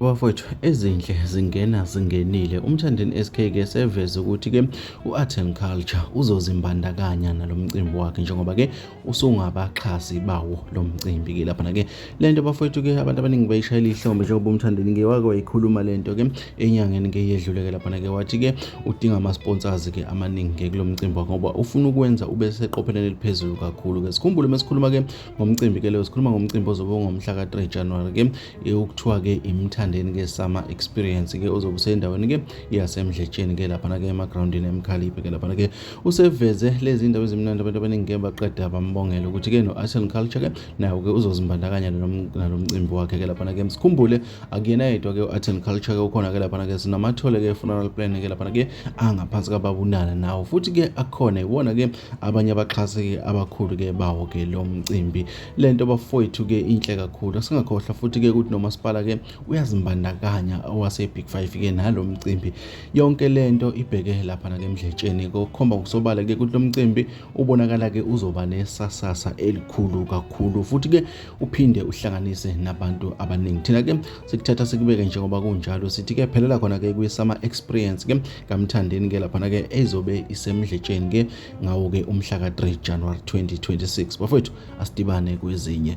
Bafowethu ezinhle zingena zingenile umthandeni SK ke seveze ukuthi ke uArt and Culture uzozimbandakanya nalomcimbi wakhe njengoba ke usungabaxhasi bawo lo mcimbi ke lapha ke lento bafowethu ke abantu abaningi bayishayela ihlombe njengoba umthandeni ke wake wayikhuluma lento ke enyangeni ke yedlule ke lapha ke wathi ke udinga ama sponsors ke amaningi ke kulomcimbi wakhe ngoba ufuna ukwenza ube seqopheleni eliphezulu kakhulu ke sikhumbule mesikhuluma ke ngomcimbi ke leyo sikhuluma ngomcimbi ozobe ungomhla ka-3 January ke ukuthiwa ke imthandeni ke summer experience ke ozobe usendaweni ke yasemdletsheni ke laphana ke emagroundini emkhaliphe ke laphana ke useveze lezi ndawo ezimnandi abantu abaningi ke baqeda bambongela ukuthi ke no-artisan culture ke nawo ke uzozimbandakanya nalo mcimbi wakhe ke laphana ke sikhumbule akuyena yedwa ke u-artisan culture ke ukhona ke laphana ke sinamathole ke funeral plan ke laphana ke angaphansi kababunana nawo futhi ke akhona iwona ke abanye abaxhasi abakhulu ke bawo ke lo mcimbi le nto bafowethu ke inhle kakhulu singakhohlwa futhi ke ukuthi nomasipala ke uyazimbandakanya owasebig five ke nalo mcimbi yonke le nto ibheke lapha nake emdletsheni kokhomba ngokusobala ke ukuthi lo mcimbi ubonakala ke uzoba nesasasa elikhulu kakhulu futhi ke uphinde uhlanganise nabantu abaningi thina ke sikuthatha sikubeke njengoba kunjalo sithi ke phelela khona ke kwi-summer experience ke kaMthandeni ke laphana ke ezobe isemdletsheni ke ngawo ke umhla ka-3 January 2026 bafowethu asidibane kwezinye